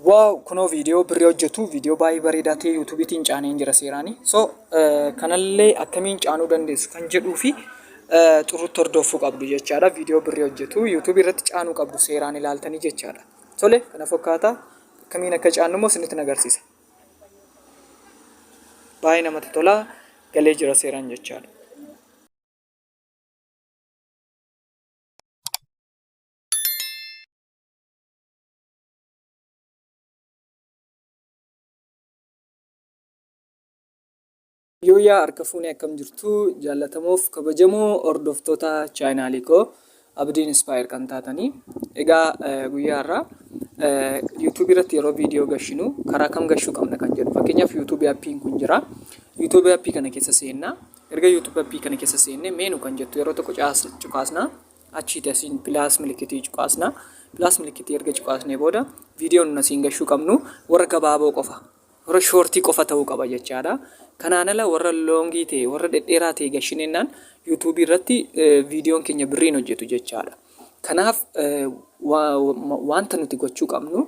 Waaw kunoo viidiyoo birrii hojjetu viidiyoo baay'ee bareedaa ta'e yuutuubiitiin caaneen jira seeraanii. So eh, kanallee akkamiin caanuu dandeessu kan jedhuu fi eh, xurrutti hordoffuu qabdu jechaadha. Viidiyoo birrii hojjetu yuutuubii irratti caanuu qabdu seeraan ilaaltanii jechaadha. Tole kana fakkaata akkamiin akka caannu immoo isinitti nagarsiisa. Baay'ee namatti tola galee jira seeraan jechaadha. Yooyaa harka fuunee akkam jirtu jaallatamoof kabajamoo hordoftoota chaayinaalii koo abdiin ispaayer kan taatanii egaa eh, guyyaa irraa yuutuubii irratti yeroo viidiyoo gashinu karaa kam gashuu qabna kan jedhu fakkeenyaaf yuutuubii appiin kun jira yuutuubii appii kana keessa seennaa erga yuutuubii appii kana keessa seennee meenu kan jettu yeroo tokko caas- cuqaasna achiiti asiin pilaas milikitii cuqaasna pilaas milikitii erga cuqaasnee booda viidiyoon nun asiin gashuu qabnu warra gabaaboo qofa warra shoortii qofa ta'uu qaba jechaadha kanaan ala warra loongii ta'e warra dhedheeraa ta'e gashineennaan yuutuubii irratti viidiyoon keenya birriin hojjetu jechaadha kanaaf wanta nuti gochuu qabnu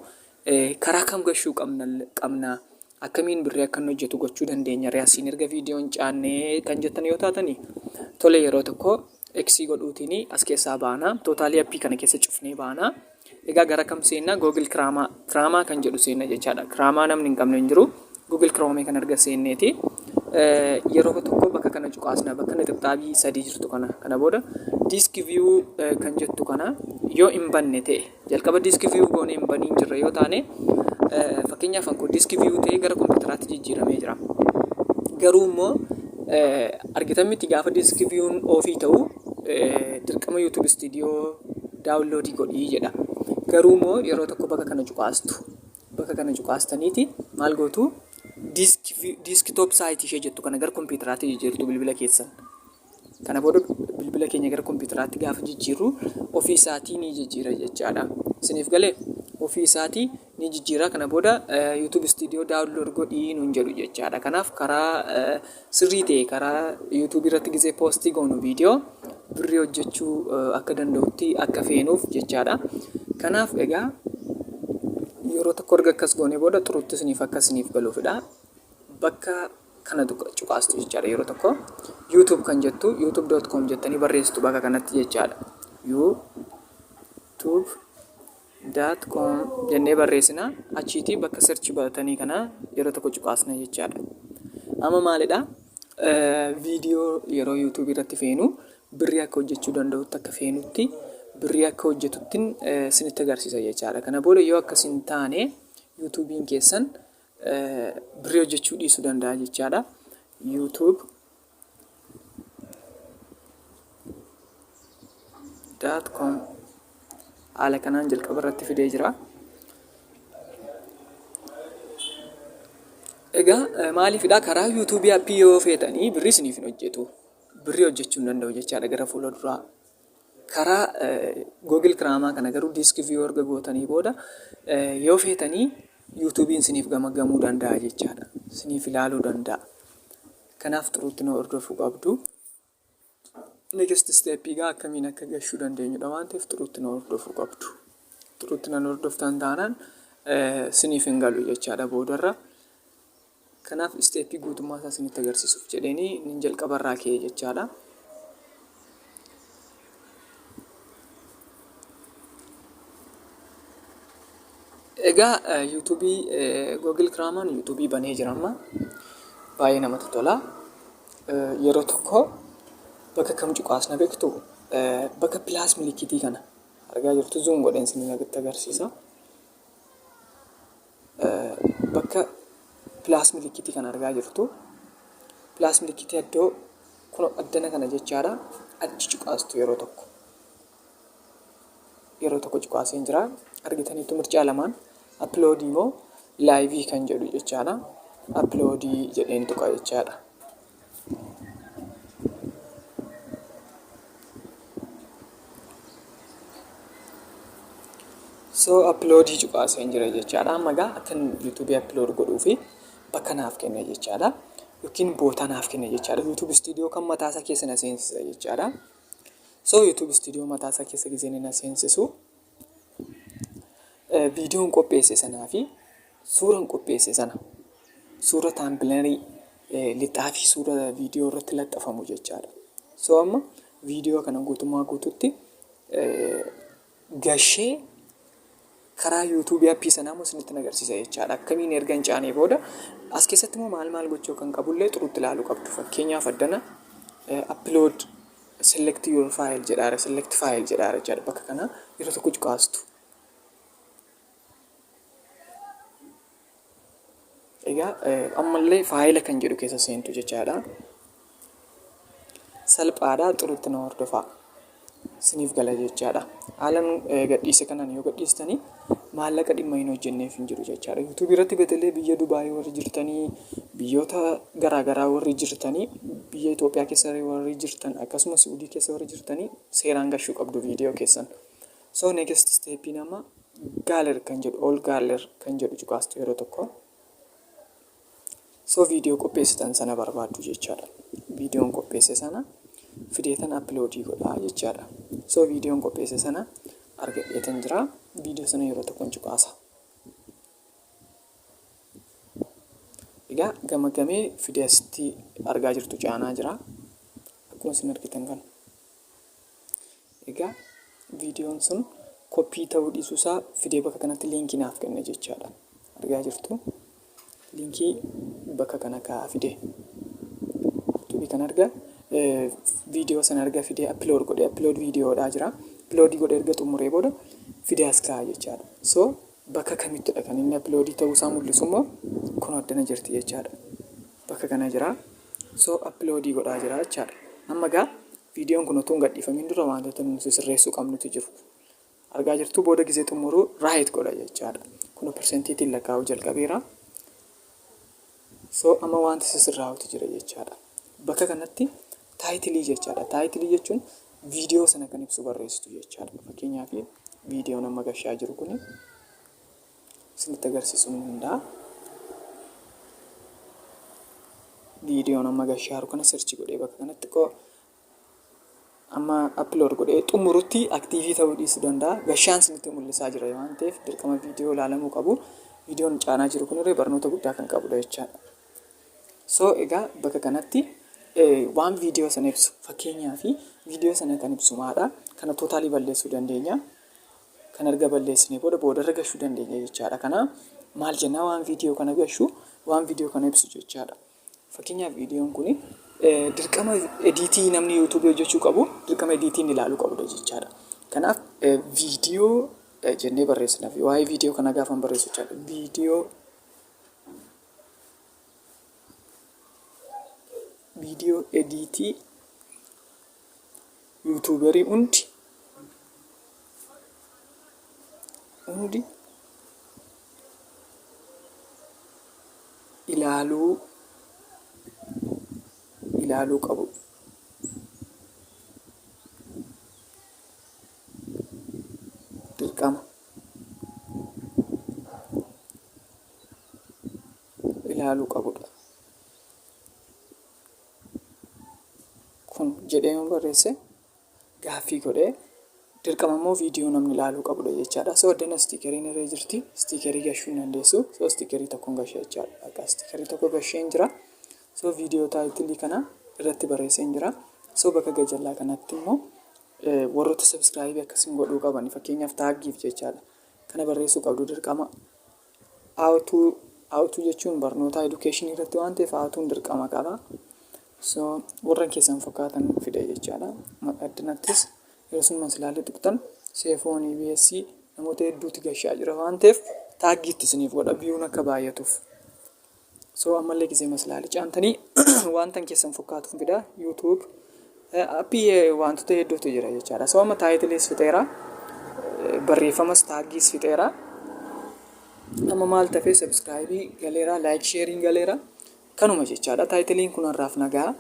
Karaa kam gashuu qabna? Akkamiin birrii akka inni hojjetu gochuu dandeenya? Ree asiin erga viidiyoo hin caanne kan jettan yoo taatani tole yeroo tokko eksii godhuutiin as keessaa baana. Tootaalii appii kana keessa cufnee baana. Egaa gara kam seenna? Google Kiraamaa Kiraamaa kan jedhu seenna jechaadha. Kiraamaa namni hin qabne hin jiru. Google Chrome kan arga seenneeti. Yeroo tokko bakka kana cuqaasna bakka inni xibxaabii sadii jirtu kana kana booda disk view kan jettu kana yoo hin banne ta'e jalqaba disk view goonee hin baniin jirra yoo taane fakkeenyaaf anko disk view ta'e gara kompiitaraatti jijjiiramee jira. Garuu immoo argitan miti gaafa disk view'n ofii ta'u dirqama YouTube studio daawunloodii godhii jedha. Garuu immoo yeroo tokko bakka kana cuqaastu Bakka kana cuqaastaniiti maal gootu disk view- desktop site ishee jettu kana gara kompiitaraatti jijjiirtu bilbila keessan. Kana booda bilbila keenya gara kompiitaraatti gaafa jijjiirru ofii isaatii ni jijjiira jechaadha. Isiniif galee ofii isaatii ni jijjiira. Kana booda eh, YouTube Studio download godhii nuun jedhu jechaadha. Kanaaf karaa eh, Sirrii ta'e karaa YouTube irratti gizee post goonu video birrii hojjechuu akka danda'utti akka feenuuf jechaadha. Kanaaf egaa yeroo tokko erga akkas goonee booda xurutti isiniif akka isiniif galuufidha. Bakka kana cuqaastu jechaadha yeroo tokko YouTube kan jettu youtube.com jettanii barreessitu bakka kanatti jechaadha. YouTube dot com jennee barreessina achiitii bakka search baratanii kana yeroo tokko cuqaasna jechaadha amma maalidha viidiyoo yeroo yuutuubii irratti feenu birrii akka hojjechuu danda'utti akka feenutti birrii akka hojjetuttin sinitti agarsiisa jechaadha kana booda yoo akkas hin taane yuutuubiin keessan birrii hojjechuu dhiisuu danda'a jechaadha yuutuub daat koom haala kanaan jalqaba irratti fidee jira. Egaa eh, maaliifidha karaa yuutuubii appii yoo feetanii birrii isiniif hin hojjetu. Birrii hojjechuu hin danda'u jechaadha gara fuula duraa. Karaa Google Kiraamaa kana garuu diiskii viyuu erga gootanii booda eh, yoo feetanii yuutuubiin isiniif gamagamuu danda'a jechaadha. Isiniif ilaaluu danda'a. Kanaaf xuruutti na hordofuu qabdu. Next step egaa akkamiin akka gashuu dandeenyudha waan ta'eef xuruutti na hordofuu qabdu. Xuruutti nan hordoftan taanaan siniif hin galu jechaadha boodarra. Kanaaf isteeppii guutummaa isaa isinitti agarsiisuuf jedheenii nin jalqabarraa ka'e jechaadha. Egaa YouTube Google Chrome an YouTube banee jira amma baay'ee namatti tola. Yeroo tokko bakka kam cuqaasna beektu bakka pilaas milikitii kana argaa jirtu zuun godheen isin agarsiisa. bakka pilaas milikitii kan argaa jirtu pilaas milikitii addoo kun addana kana jechaadha achi cuqaastu yeroo tokko yeroo tokko cuqaaseen jira argitaniitu mircaa lamaan appiloodii moo laayivii kan jedhu jechaadha appiloodii jedheen tuqa jechaadha so appiloodii cuqaaseen jira jechaadha amma gaa akkan yuutuubii appilood godhuu fi bakka naaf kenna jechaadha yookiin boota naaf kenna jechaadha yuutuub istiidiyoo kan mataasa keessa na seensisa jechaadha so yuutuub istiidiyoo mataasa keessa gisee na seensisu viidiyoon qopheesse sanaa fi suuran qopheesse sana suura taambilarii lixaa fi suura viidiyoo irratti laxxafamu jechaadha. So amma viidiyoo kana guutummaa guututti gashee karaa yuutuubii appii sanaa immoo isinitti agarsiisa jechaadha. Akkamiin erga hin caanee booda as keessatti immoo maal maal gochuu kan qabullee xuruutti ilaaluu qabdu. Fakkeenyaaf addana appilood Select your file jedhaara select file jedhaara jechaadha bakka kana yeroo tokko cuqaastu egaa ammallee faayila kan jedhu keessa seentu jechaadha salphaadha xurutti na hordofaa isiniif gala jechaadha haalan gadhiise kanaan yoo gadhiistanii maallaqa dhimma hin hojjenneef hin jiru jechaadha. YouTube irratti betelee biyya Dubaayii warri jirtanii, biyyoota garaa garaa warri jirtanii, biyya Itoophiyaa keessa warri jirtan, akkasumas Suudii keessa warri jirtanii seeraan gashuu qabdu viidiyoo keessan. So next step nama galer kan jedhu all galer kan jedhu cuqaastu yeroo tokko. So video qopheessitan sana barbaaddu jechaadha. Videon qopheesse sana fideetan upload godhaa jechaadha. So videon qopheesse sana argadheetan jira. Video sana yeroo tokkon cuqaasa. Egaa gamagamee fidee asitti argaa jirtu caanaa jira. Akkuma isin argitan kana. Egaa viidiyoon sun koppii ta'uu dhiisuu isaa fidee bakka kanatti liinkii naaf kenne jechaadha. Argaa jirtu liinkii bakka kana kaa'aa fide. Tuubii kan arga viidiyoo sana arga fidee appilood godhee appilood viidiyoodhaa jira. Appiloodii godhee erga xumuree booda fidee as kaa'a jechaadha. So bakka kamittidha kan inni appiloodii ta'uu isaa mul'isu immoo kun addana jirti jechaadha. Bakka kana jira. So appiloodii godhaa jira jechaadha. Amma egaa Viidiyoon kun utuu hin gadhiifamiin dura waantota nuti sirreessuu qabnutu jiru. Argaa jirtuu booda gizee xumuruu right godha jechaadha. Kun persentiitiin lakkaa'uu jalqabeera. So amma waanti sisirraa'utu jira jechaadha. Bakka kanatti taayitilii jechaadha. Taayitilii jechuun viidiyoo sana kan ibsu barreessitu jechaadha. Fakkeenyaaf viidiyoon amma gashaa jiru kuni. isinitti agarsiisu ni danda'a. Viidiyoon amma gashaaru kana sirchi godhee bakka kanatti xiqqoo amma upload godhee xumurutti aktiivii ta'uu dhiisuu danda'a. Gashaan isinitti mul'isaa jira waan ta'eef dirqama viidiyoo ilaalamuu qabu. Viidiyoon caanaa jiru kunillee barnoota guddaa kan qabudha jechaadha. So egaa bakka kanatti waan viidiyoo sana ibsu fakkeenyaa fi viidiyoo sana kan ibsu maadha. Kana tootaalii balleessuu dandeenya. Kan erga balleessinee booda boodarra gashuu dandeenya jechaadha. Kana maal jennaa waan viidiyoo kana gashu waan viidiyoo kana ibsu jechaadha. Fakkeenyaaf viidiyoon kun dirqama ediitii namni yuutuubii hojjechuu qabu dirqama ediitiin ilaaluu qabudha jechaadha. Kanaaf viidiyoo jennee barreessina. Waa'ee viidiyoo kana gaafan barreessu jechaadha. Viidiyoo viidiyoo ediitii Yuutuubarii hundi hundi ilaaluu ilaaluu qabu. Dirqama ilaaluu qabudha. Kun jedhee yoo barreesse gaaffii godhee dirqama immoo viidiyoo namni ilaaluu qabudha jechaadha. So addana istiikeriin irra jirti. Istiikerii gashuu hin dandeessu. So istiikerii tokkoon gashe jechaadha. Akka istiikerii tokko gasheen jira. So viidiyoo taayitilii kana irratti barreesseen jira. So bakka gajallaa kanatti immoo warroota sabiskiraayibii akkasiin godhuu qaban fakkeenyaaf taaggiif jechaadha. Kana barreessuu qabdu dirqama. How to How to jechuun barnootaa education irratti waan ta'eef how to'n dirqama qaba. So warran keessan fakkaatan fida jechaadha. Maqaa addunattis yeroo sun maslaalii tuqxan seefoon EBS namoota hedduutti gashaa jira waan ta'eef taaggii itti isiniif godha biyuun akka baay'atuuf. So ammallee gizee maslaali caamtanii waan tan keessan fokkaatuun fida YouTube appii waantota hedduutu jira jechaadha. So amma taayitiliis fixeera barreeffamas taaggiis fixeera. Amma maal tafee sabskraayibii galeera laayik sheeriin galeera kanuma jechaadha. Taayitiliin kun har'aaf nagaa.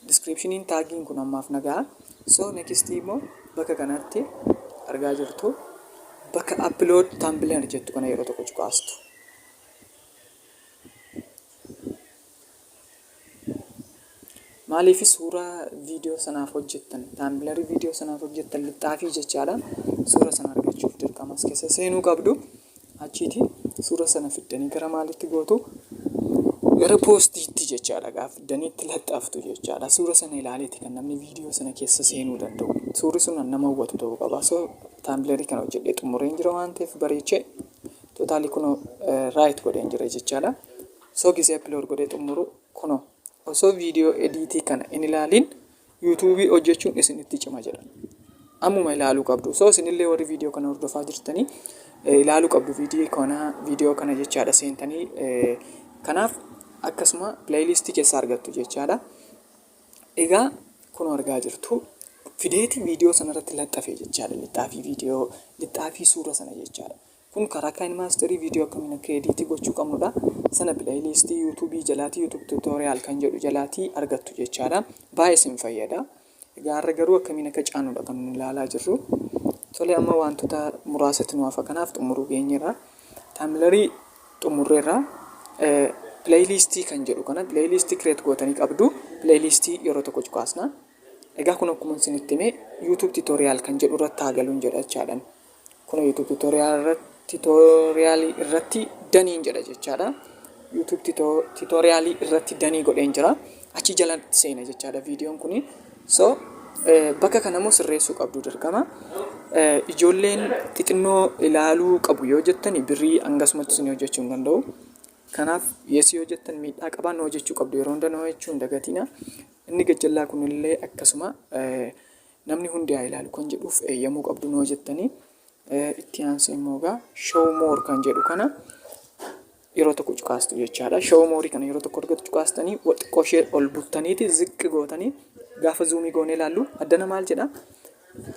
Description tagin kun ammaaf na gaha. So next immoo bakka kanatti argaa jirtu bakka upload thumbnail jettu kana yeroo tokko cuqaastu. Maaliif suuraa viidiyoo sanaaf hojjettan thumbnail viidiyoo sanaaf hojjettan lixxaafii jechaadha. Suura sana argachuuf dirqama as keessa seenuu qabdu. Achiiti suura sana fiddanii gara maalitti gootu? Gara poostiitti jechaadha. Egaa fiddanii itti laxxaftu jechaadha. Suura sana ilaaleeti kan namni viidiyoo sana keessa seenuu danda'u. Suurri sun kan nama hawwatu ta'uu qaba. So taambileerii kana hojjedhee xumureen jira waan ta'eef bareechee tootaalii kunoo raayit godheen jira jechaadha. So gisee appilood godhee xumuru kunoo osoo viidiyoo ediitii kana hin ilaaliin YouTube hojjechuun isin itti cima jedha. Ammuma ilaaluu qabdu. So isinillee warri viidiyoo kana hordofaa jirtanii eh, ilaaluu qabdu viidiyoo kana viidiyoo kana jechaadha seentanii eh, kanaaf akkasuma pileeyiliistii keessaa argattu jechaadha. Egaa kun argaa jirtu fideetii viidiyoo sanarratti laxxafee jechaadha. Lixxaafii viidiyoo lixxaafii suura sana jechaadha. Kun karaa KineMaster video akkamiin akka edit gochuu qabnudha. Sana playlist YouTube jalaatii YouTube tutorial kan jedhu jalaatii argattu jechaadha. Baay'ee isin fayyada. Egaa har'a garuu akkamiin akka caanudha kan nuyi ilaalaa jirru. Tole amma wantoota muraasatti nu hafa kanaaf xumuruu geenyeerra. Taamlarii xumurreerra. Playlist kan jedhu kana playlist create gootanii qabdu. Playlist yeroo tokko cuqaasna. Egaa kun akkuma isinitti hime YouTube tutorial kan jedhu irratti haa galuun jedha jechaadha. Kunoo YouTube tutorial irratti tutorial irratti daniin jedha jechaadha. YouTube tutorial irratti danii godheen jira. Achi jala seena jechaadha viidiyoon kuni. So bakka kana immoo sirreessuu qabdu dirqama. Ijoolleen xixinnoo ilaaluu qabu yoo jettani birrii hangasumatti isin hojjechuu hin danda'u. Kanaaf yes yoo jettan miidhaa qabaa noo jechuu qabdu yeroo hunda noo jechuu hin dagatina. Inni gajjallaa kunillee akkasuma Namni hundi haa ilaalu kan jedhuuf eeyyamuu qabdu noo jettanii itti aansee immoo egaa show more kan jedhu kana yeroo tokko cuqaastu jechaadha. Show more kana yeroo tokko argatu cuqaastanii xiqqoo ishee ol buttaniiti ziqqi gootanii gaafa zuumii goonee ilaallu addana maal jedha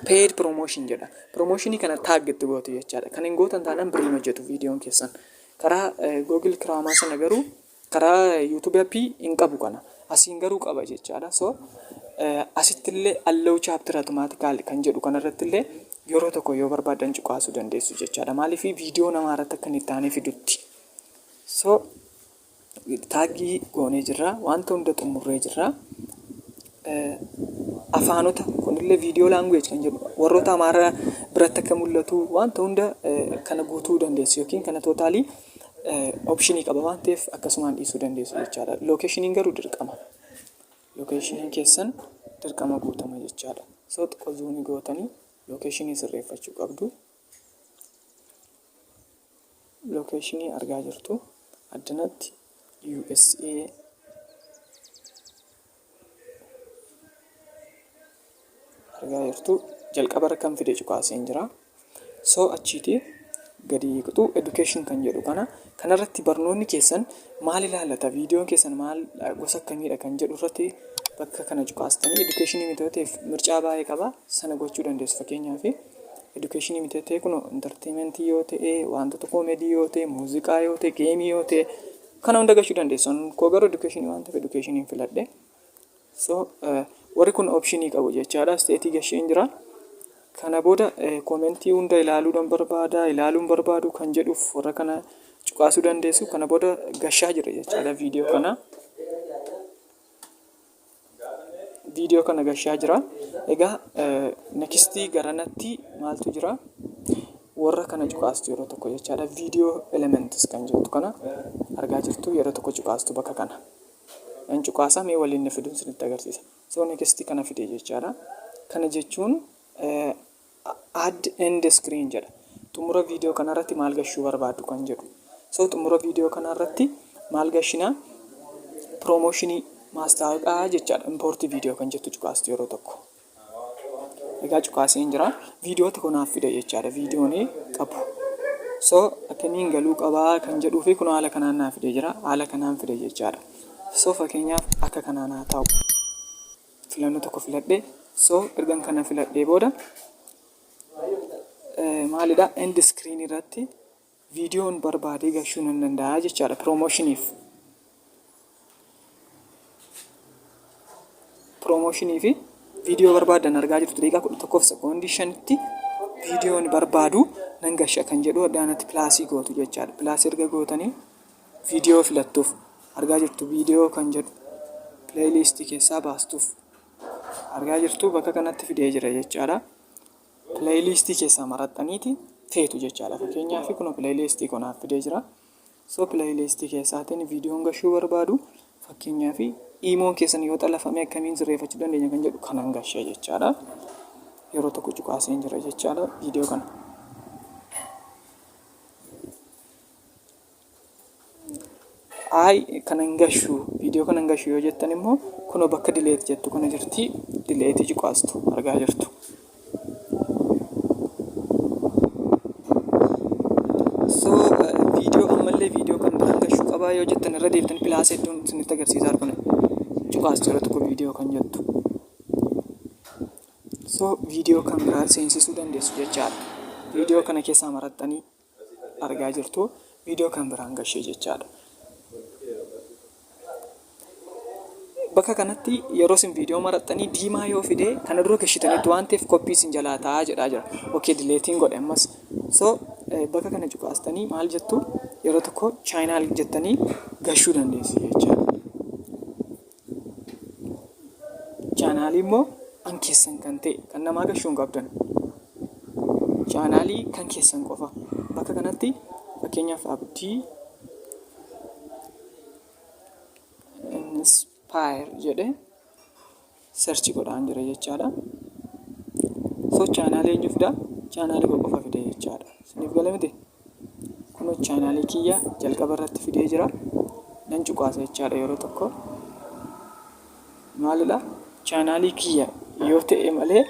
paid promotion jedha. Promotion kana taag itti gootu jechaadha. Kan hin gootan taanaan birrii hin hojjetu viidiyoon keessan. Karaa Google Kiraamaa sana garuu Karaa YouTube app hin qabu kana. Asiin garuu qaba jechaadha. So asitti illee allow chapter automatical kan jedhu kana irratti illee yeroo tokko yoo barbaadan cuqaasuu dandeessu jechaadha. Maaliif viidiyoo namaa irratti akka inni itti aanee fidutti. So taaggii goonee jirra. Wanta hunda xumurree jirra. afaanota kunillee viidiyoo laanguweej kan jedhu warroota amaaraa biratti akka mul'atu wanta hunda kana guutuu dandeessu yookiin kana tootaalii opshinii qaba waan ta'eef akkasumaan dhiisuu dandeessu jechaadha. Lookeeshiniin garuu dirqama. Lookeeshiniin keessan dirqama guutama jechaadha. So xiqqoo zuunii gootanii lookeeshinii sirreeffachuu qabdu. Lookeeshinii argaa jirtu addanatti USA argaa jirtu jalqaba irra kan fide cuqaaseen jira so achiiti gadi kutu education kan jedhu kana kanarratti barnoonni keessan maal ilaallata viidiyoon keessan maal gosa akkamiidha kan jedhu irratti bakka kana cuqaastanii education mitoteef mircaa baay'ee qaba sana gochuu dandeessu fakkeenyaaf education mitatee kun entertainment yoo ta'e wantoota comedy yoo ta'e muuziqaa yoo ta'e geemii yoo ta'e Kana hunda gachuu dandeessu. An Koo garuu education waan ta'eef education hin filadhe. So eh, warri kun option qabu jechaadha. State gasheen jira. Kana booda eh, koomentii hunda ilaaluudhaan barbaada, ilaaluun barbaadu kan jedhuuf warra kana cuqaasuu dandeessu. Kana booda gashaa jira jechaadha viidiyoo kana. video kana gashaa jira egaa next garanatti maaltu jira warra kana cuqaastu yeroo tokko jechaadha video elements kan jirtu kana argaa jirtu yeroo tokko cuqaastu bakka kana in cuqaasa mee waliin na fiduun sinitti agarsiisa so next kana fide jechaadha kana jechuun add end screen jedha xumura viidiyoo kana irratti maal gashuu barbaadu kan jedhu so xumura viidiyoo kana irratti maal gashinaa piroomooshinii maastaawaqaa jechaadha impoortii viidiyoo kan jettu cuqaastu yeroo tokko egaa cuqaaseen jira viidiyoota kunaaf fida jechaadha viidiyoon qabu so akkamiin galuu qabaa kan jedhuu fi kun haala kanaan naaf fide jira haala kanaan fide jechaadha so fakkeenyaaf akka kanaan haa ta'u filannoo tokko filadhe so ergan kana filadhee booda maalidha end screen irratti viidiyoon barbaadee gashuu nan danda'a jechaadha piroomoshiniif piroomooshinii fi viidiyoo barbaadan argaa jirtu daqiiqaa kudha tokkoof sekoondii shanitti viidiyoon barbaadu nan gasha kan jedhu addaanatti pilaasii gootu jechaadha pilaasii erga gootanii Viidiyoo filattuuf argaa jirtu Viidiyoo kan jedhu playlist keessaa baastuuf argaa jirtu bakka kanatti fidee jira jechaadha. Playlist keessaa maraxxaniiti feetu jechaadha. Fakkeenyaaf kun playlist koo naaf fidee jira. So playlist keessaatiin viidiyoon gashuu barbaadu fakkeenyaaf iimoon keessan yoo xalafame akkamiin sirreeffachuu dandeenya kan jedhu kanan gashee jechaadha. Yeroo tokko cuqaaseen jira jechaadha viidiyoo kana. Ayi kana hin gashu video kana hin gashu yoo jettan immoo kunoo bakka delete jettu kana jirti delete cuqaastu argaa jirtu. So video ammallee video kan biraan gashu qabaa yoo jettan irra deebitan plus hedduun isinitti agarsiisaa argan cuqaastu irra tokko video kan jettu. So video kan biraa seensisuu dandeessu jechaadha. Video kana keessaa marattanii. argaa jirtu viidiyoo kan biraan gashee jechaadha. Bakka kanatti yeroo isin viidiyoo maraxxanii diimaa yoo fidee kana dura gashitanitti waan ta'eef koppii isin jalaa ta'aa jedhaa jira. Okee dileetiin godhe ammas. So bakka kana cuqaastanii maal jettu yeroo tokko chaayinaal jettanii gashuu dandeessu jechaadha. Chaanaalii immoo kan keessan kan ta'e kan namaa gashuu hin qabdan. Chaanaalii kan keessan qofa. Bakka kanatti fakkeenyaaf abdii inspire jedhe search godhaan jira jechaadha. So chaanaalii eenyuuf daa? Chaanaalii koo qofa fide jechaadha. Isiniif gala miti? Kunoo chaanaalii kiyya jalqaba irratti fidee jira. Nan cuqaasa jechaadha yeroo tokko. Maalidha? Chaanaalii kiyya yoo ta'e malee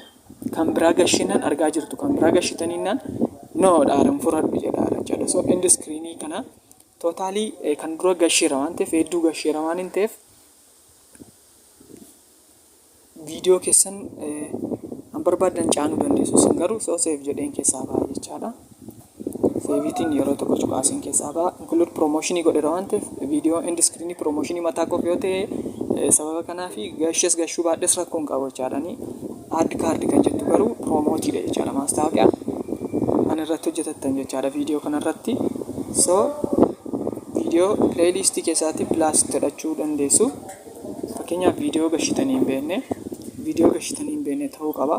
kan biraa gashinan argaa jirtu kan biraa gashitaniinaan noo dhaaran furadhu jedha jechaadha. So end screen kana tootaalii kan dura gasheera waan ta'eef hedduu gasheera waan hin ta'eef viidiyoo keessan kan barbaaddan caanuu dandeessu. Isin garuu soo seef jedheen keessaa ba'a jechaadha. Seeviitiin yeroo tokko cuqaasiin keessaa ba'a. Include promotion godheera waan ta'eef viidiyoo end screen promotion mataa koof yoo ta'e eh, sababa kanaa fi gashes gashuu baadhes rakkoo hin qabu jechaadha. Ani add card kan jettu garuu promote dha jechaadha maastaawoqiyaa. Ani irratti hojjetattan jechaadha viidiyoo kana irratti. So viidiyoo playlist keessaatti blast godhachuu dandeessu. Fakkeenyaaf viidiyoo gashitanii hin beekne, viidiyoo gashitanii hin beekne ta'uu qaba.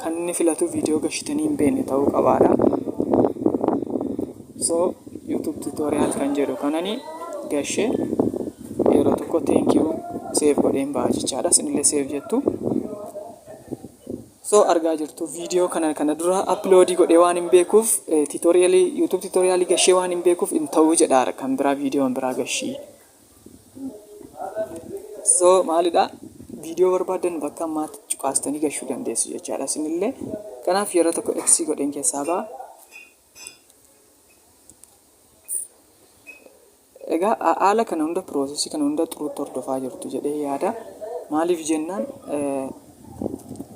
Kan inni filatu viidiyoo gashitanii hin beekne ta'uu qabaadha. So YouTube tutorial kan jedhu kanani gashee yeroo tokko thank you save godheen ba'a jechaadha. Isinillee save jettu. So argaa jirtu viidiyoo kana kana dura upload godhee waan hin beekuuf tutorial YouTube tutorial gashee waan hin beekuuf hin ta'uu jedha kan biraa viidiyoon biraa gashii. so maalidha viidiyoo barbaadan bakka ammaatti cuqaastanii gashuu dandeessu jechaadha isinillee kanaaf yeroo tokko eksii godheen keessaa ba'a egaa a- haala kana hunda piroosesii kana hunda xuruutti hordofaa jirtu jedhee yaada maaliif jennaan eh,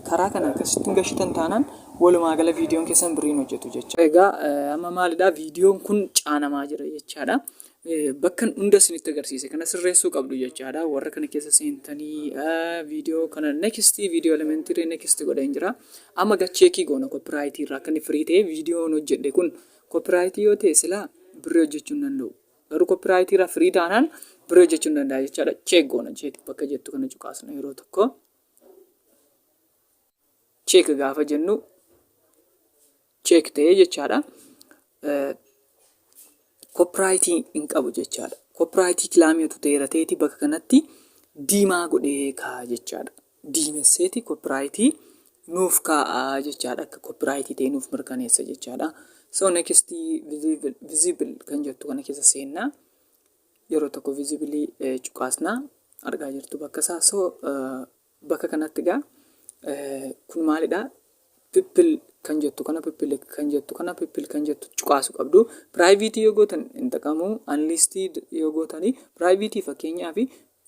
karaa kana akkasittiin gashitan taanaan walumaa gala viidiyoon keessan biriin hojjetu jecha. Egaa eh, amma maalidha viidiyoon kun caanamaa jira jechaadha. bakkan hunda isinitti agarsiise kana sirreessuu qabdu jechaadha warra kana keessa seentanii viidiyoo kana next viidiyoo elementiree next godheen jira amma gacheekii goona koopiraayitii irraa akka inni firii ta'e viidiyoon hojjedhe kun koopiraayitii yoo ta'e silaa birrii hojjechuu hin danda'u garuu koopiraayitii irraa firii taanaan birrii hojjechuu hin danda'a jechaadha cheek goona jeeti bakka jettu kana cuqaasna yeroo tokko check gaafa jennu check ta'ee jechaadha. Koopiraayitii hin qabu jechaadha. Koopiraayitii kilaamii utuu ta'eera ta'eeti bakka kanatti diimaa godhee kaa'a jechaadha. Diimesseeti koopiraayitii nuuf kaa'a jechaadha. Akka koopiraayitii ta'e nuuf mirkaneessa jechaadha. So next visible kan jettu kana keessa seennaa. yeroo tokko visibilii cuqaasnaa argaa jirtu bakka isaa so Bakka kanatti egaa kun maalidha? Pippil kan jettu kana pippil kan jettu kana pippil kan jettu cuqaasu qabdu. Piraayiviitii yoo gootan hin xaqamu. Anliistii yoo gootanii piraayiviitii fakkeenyaaf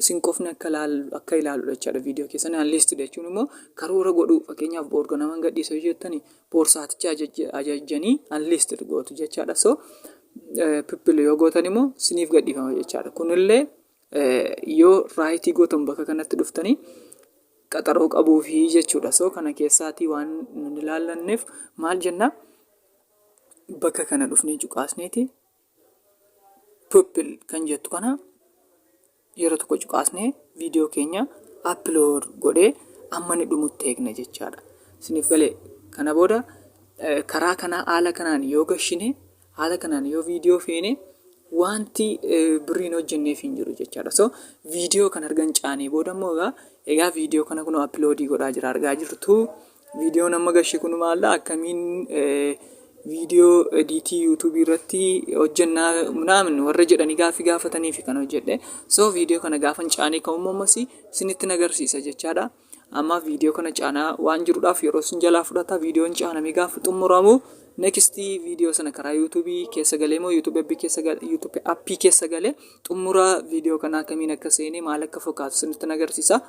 isin qofni akka ilaalu akka ilaaludha jechaadha viidiyoo keessan anliistii jechuun immoo karoora godhuu fakkeenyaaf boorga naman gadhiisa yoo jettani boorsaaticha ajajjanii anliistii gootu jechaadha. So pippil yoo gootan immoo siniif gadhiifama jechaadha. Kunillee Yoo raayitii gootan bakka kanatti dhuftanii qaxaroo qabuufi jechuudha. So kana keessaatii waan nun ilaallanneef maal jenna? Bakka kana dhufnee cuqaasneeti pupil kan jettu kana yeroo tokko cuqaasnee viidiyoo keenya upload godhee amma ni dhumutti eegna jechaadha. Isiniif galee kana booda karaa kanaa haala kanaan yoo gashine Haala kanaan yoo viidiyoo feene wanti birrii hin hojjenneef hin jiru jechaadha. So viidiyoo kan argan caanee booda immoo egaa egaa viidiyoo kana kunoo appiloodii godhaa jira argaa jirtu. Viidiyoon amma gashee kun maalidha akkamiin viidiyoo ediitii yuutuubii irratti hojjennaa minaamin warra jedhanii gaaffii gaafataniif kan hojjedhe. So viidiyoo kana gaafan caanee ka'ummoo ammas isinitti nagarsiisa jechaadha. Amma viidiyoo kana caanaa waan jirudhaaf yeroo isin jalaa fudhata viidiyoon caanamee gaafa xumuramu next viidiyoo sana karaa yuutuubii keessa galee moo yuutuubii appii keessa galee yuutuubii appii keessa galee xumura viidiyoo kana akkamiin akka seenee maal akka fakkaatu isinitti agarsiisa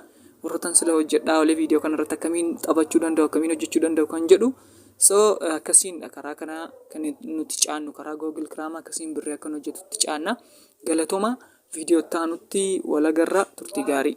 warrotan sila hojjedhaa olee viidiyoo kana irratti akkamiin taphachuu danda'u akkamiin hojjechuu danda'u kan jedhu so akkasiin karaa kana kan nuti caannu karaa googil kiraamaa akkasiin birrii akkan hojjetutti caanna galatooma viidiyoo itti aanutti walagarra turtii gaarii.